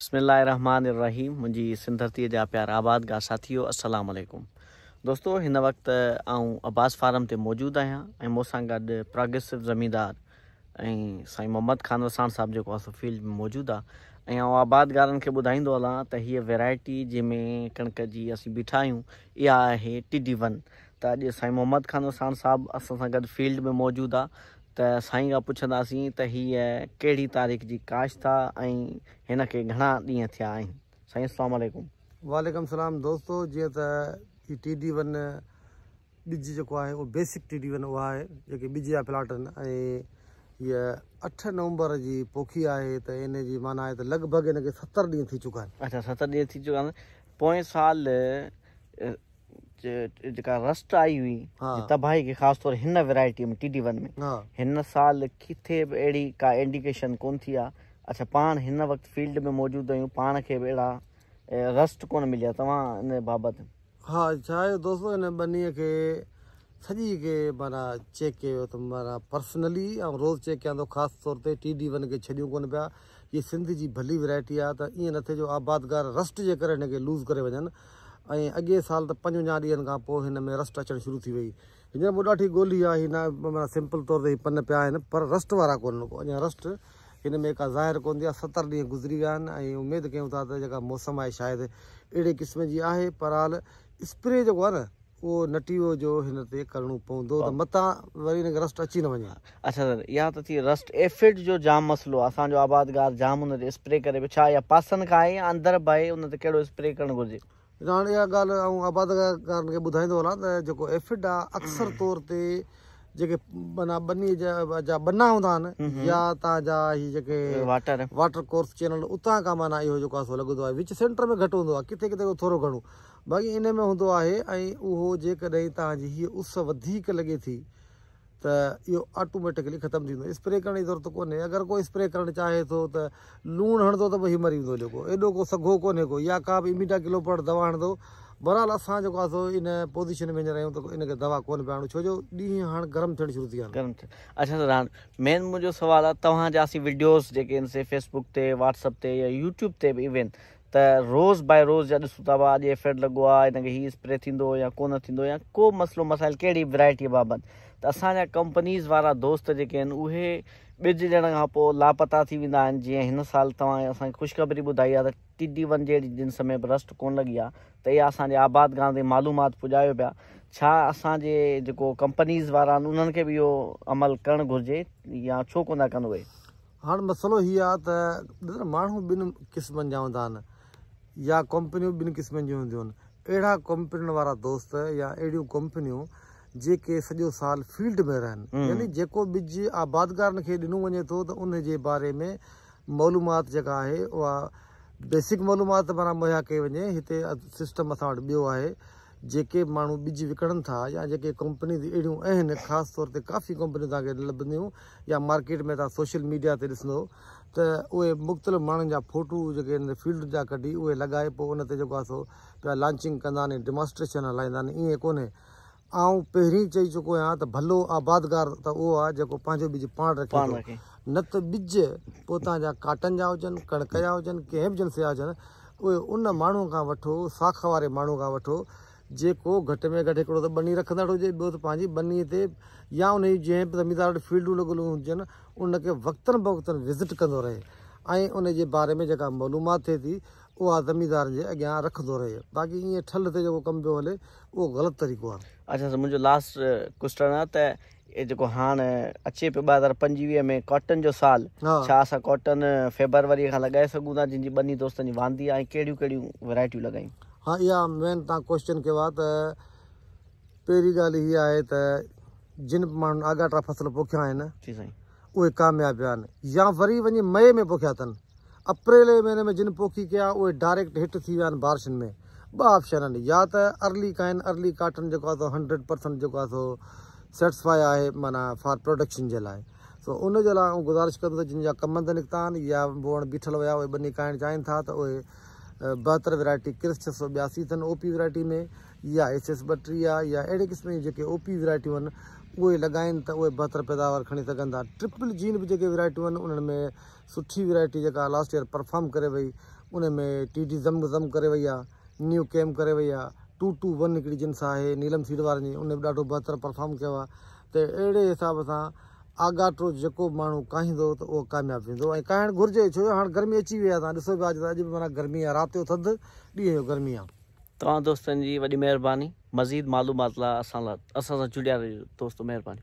بسم الله الرحمٰن الرحيم منهنجي سنڌ ڌرتي جا پيارا آباد گاهه ساٿيو السلام عليڪم دوستو هن وقت آئون عباس فارم تي موجود آهيان ۽ مون سان گڏ پراگريسو زميندار ۽ سائين محمد خان وساڻ صاحب جيڪو اسو فيلڊ ۾ موجود آ ۽ آئون آباد گارن کي ٻڌائيندو هلان ته هيء ويرائٽي جنهن ۾ ڪڻڪ جي اسين بيٺا آهيون اها آهي ٽي ڊي ون ته اڄ سائين محمد خان وساڻ صاحب اسان سان گڏ فيلڊ ۾ موجود آ ته سائين کان پڇنداسين ته هيء ڪهڙي تاريخ جي ڪاشت آ ۽ هن کي گهڻا ڏينهن ٿيا آهن؟ سائين السلام عليڪم. وعليڪم السلام دوستو جيئن ته هي ٽي ڊي ون ٻج جيڪو آهي اهو بيسڪ ٽي ڊي ون اها آهي جيڪي ٻج جا پلاٽ آهن ۽ هيء اٺ نومبر جي پوکي آهي ته ان جي معنيٰ آهي ته لڳ ڀڳ ان کي ستر ڏينهن ٿي چڪا آهن. اچا ستر ڏينهن ٿي چڪا آهن پوئين سال جيڪا رسٽ آئي هئي تباهي کي خاص طور هن ويرائٽي ۾ ٽي ڊي ون ۾ هن سال ڪٿي به اهڙي ڪا انڊيڪيشن ڪون ٿي آهي اڇا پاڻ هن وقت فيلڊ ۾ موجود آهيون پاڻ کي به اهڙا رسٽ ڪون مليا توهان ان بابت ها ڇا آهي دوستو هن ٻنيء کي سڄي کي مانا چيڪ ڪيو ته مانا پرسنلي روز چيڪ ڪيان ٿو خاص طور تي ٽي ڊي ون کي ڇڏيون ڪون پيا هيء سنڌ جي ڀلي ورائٽي آ ته ائين نه ٿئي جو آبادگار رسٽ جي ڪري هن کي لوز ڪري وڃن ۽ اڳئين سال ته پنجونجاهه ڏينهن کان پوء هن ۾ رسٽ اچڻ شروع ٿي وئي. هينئر مون ڏاٺي ڳولي آ هي ناهي سمپل طور تي هي پن پيا آهن پر رسٽ وارا ڪونهن ڪو اڃان رسٽ هن ۾ ڪا ظاهر ڪونه ٿي آ ستر ڏينهن گذري ويا آهن ۽ اميد ڪيون ٿا ته جيڪا موسم آهي شايد اهڙي قسم جي آهي پر حال اسپري جيڪو آهي نه اهو نٽيو جو هن تي ڪرڻو پوندو ته متان وري هن کي رسٽ اچي نه وڃي. اچھا سر اها ته ٿي رسٽ ايفڊ جو جام مسئلو اسان جو آبادگار جام ان تي اسپري ڪري پيو ڇا اها پاسن کان آهي يا اندر به آهي ان تي ڪهڙو اسپري ڪرڻ گهرجي. ڏٺو هاڻي اها ڳالهه آئون آبادگارن کي ٻڌائيندو هلان ته جيڪو ايفڊ آهي اڪثر طور تي جيڪي معنيٰ ٻني جا ٻنا هوندا آهن يا اتان جا هي جيڪي واٽر واٽر ڪورس چينل اتان کان معنيٰ اهو جيڪو آسو لڳندو آهي وچ سينٽر ۾ گهٽ هوندو آهي ڪٿي ڪٿي ٿورو گهڻو باقي ان ۾ هوندو آهي ۽ اهو جيڪڏهن تان جي هي اس وڌيڪ لڳي ٿي ته اهو آٽوميٽڪلي ختم ٿي ويندو اسپري ڪرڻ جي ضرورت ڪونهي اگر ڪو اسپري ڪرڻ چاهي ٿو ته لوڻ هڻندو ته به هي مري ويندو جيڪو ايڏو ڪو سگهو ڪونهي ڪو يا ڪا به اميڊا ڪلوپرڊ دوا هڻندو بهرحال اسان جيڪو آهي سو ان پوزيشن ۾ هينئر آهيون ته ان کي دوا ڪونهي پيا هڻون ڇو جو ڏينهن هاڻ گرم ٿيڻ شروع ٿي ويا آهن. اچا سر هاڻ مين منهنجو سوال آهي توهان جا اسين وڊيوز جيڪي آهن سي فيس بڪ تي واٽس اپ تي يا يوٽيوب تي به ايون ته روز باء روز جا ڏسون ٿا اڄ ايفيڊ لڳو آهي ان کي هي اسپري ٿيندو يا ڪونه ٿيندو يا ڪو مسئلو مسائل ڪهڙي به ورايٽي بابت ته اسان جا ڪمپنيز وارا دوست جيڪي آهن اهي ٻج ڏيڻ کان پوء لاپتا ٿي ويندا آهن جيئن هن سال توهان اسان کي خوشخبري ٻڌائي آهي ته ٽي ڊي ون جهڙي جنس ۾ به رسٽ ڪونه لڳي آهي ته اها اسان جي آباد گاهه تي معلومات پڄايو پيا ڇا اسان جي جيڪو ڪمپنيز وارا آهن انهن کي به اهو عمل ڪرڻ گهرجي يا ڇو ڪونه ڪن اهي. هاڻ مسئلو هي آهي ته ڏس ماڻهو ٻن قسمن جا هوندا آهن. يا ڪمپنيون ٻن قسمن جون هونديون اهڙا ڪمپنين وارا دوست يا اهڙيون ڪمپنيون جيڪي سڄو سال فيلڊ ۾ رهن يعني جيڪو ٻج آبادگارن کي ڏنو وڃي ٿو ته ان جي باري ۾ معلومات جيڪا آهي اها بيسڪ معلومات ته معنيٰ مهيا ڪئي وڃي هتي سسٽم اسان وٽ ٻيو آهي جيڪي ماڻهو ٻج وڪڻن ٿا يا جيڪي ڪمپنيز اهڙيون اهن خاص طور تي ڪافي ڪمپنيون توهان کي لڀنديون يا مارڪيٽ ۾ توهان سوشل ميڊيا تي ڏسندو ته اهي مختلف ماڻهن جا ڦوٽو جيڪي هن تي فيلڊ جا ڪڍي اهي لڳائي پوء ان تي جيڪو آهي سو پيا لانچنگ ڪندا آهن ۽ ڊيماسٽريشن هلائيندا آهن ائين ڪونهي آئون پهرين چئي چڪو آهيان ته ڀلو آبادگار ته اهو آهي جيڪو پنهنجو ٻج پاڻ رکي ٿو نه ته ٻج پوء تان جا ڪاٽن جا هجن ڪڻڪ جا هجن ڪنهن به جنس جا هجن اهي ان ماڻهوء کان وٺو ساک واري ماڻهوء کان وٺو جيڪو گهٽ ۾ گهٽ هڪڙو ته ٻني رکندڙ هجي، ٻيو ته پنهنجي ٻني تي يا انهي جي جنهن به زميندار وٽ فيلڊون لڳل هجن، ان کي وقتن بوقتن وزٽ ڪندو رهي ۽ انهي جي باري ۾ جيڪا معلومات ٿئي ٿي، اها زميندارن جي اڳيان رکندو رهي. باقي ائين ٺلهه تي جيڪو ڪم پيو هلي، اهو غلط طريقو آهي. اچا سر منهنجو لاسٽ ڪوسٽرن آهي ته اهي جيڪو هاڻ اچي پيو ٻه هزار پنجويهه ۾ ڪاٽن جو سال ڇا اسان ڪاٽن فيبروري کان لڳائي سگهون ٿا جن جي ٻني دوستن جي واندي آهي ڪهڙيون ڪهڙيون ويرائٽيون لڳايون ها اها مين تان ڪوشچن ڪيو آهي ته پهرين ڳالهه هي آهي ته جن ماڻهن آڳاٽا فصل پوکيا آهن جي سائين اهي ڪامياب ويان يا وري وڃي مئي ۾ پوکيا اٿن. اپريل جي مهيني ۾ جن پوکي ڪيا اهي ڊائريڪٽ هٽ ٿي ويان بارشن ۾ ٻه آپشن آهن يا ته ارلي ڪائن ارلي ڪاٽن جيڪو آهي سو هنڊريڊ پرسنٽ جيڪو آهي سو سيٽسفائي آهي معنيٰ فار پروڊڪشن جي لاء سو ان جي لاء آئون گذارش ڪندس ته جن جا ڪمند نڪتا آهن يا بوڻ بيٺل ويا اهي ٻني ڪائڻ چاهين ٿا ته اهي بهتر ويرائٽي ڪرس ڇهه سؤ ٻياسي اٿن او پي ويرائٽي ۾ يا ايڇ ايس ٻٽيهه يا اهڙي قسم جون جيڪي او پي ويرائٽيون آهن اهي لڳائين ته اهي بهتر پيداوار کڻي سگهن ٿا ٽرپل جين به جيڪي ويرائٽيون آهن انهن ۾ سٺي ويرائٽي جيڪا لاسٽ ايئر پرفارم ڪري وئي ان ۾ ٽي ڊي زم زم ڪري وئي آهي نيو ڪيم ڪري وئي آهي ٽو ٽو ون هڪڙي جنس آهي نيلم سيڊ وارن جي ان به ڏاڍو بهتر پرفارم ڪيو آهي ته اهڙي حساب سان آگاٽو جيڪو به ماڻهو ڪاهيندو ته اهو ڪامياب ويندو ۽ ڪاهڻ گهرجي ڇو جو هاڻ گرمي اچي وئي آهي تان ڏسو پيا اڄ به معنيٰ گرمي آهي رات جو ٿڌ ڏينهن جو گرمي آهي توهان دوستن جي وڏي مهرباني مزيد معلومات لا اسان لا اسان سان جڙيا رهجو دوستو مهرباني.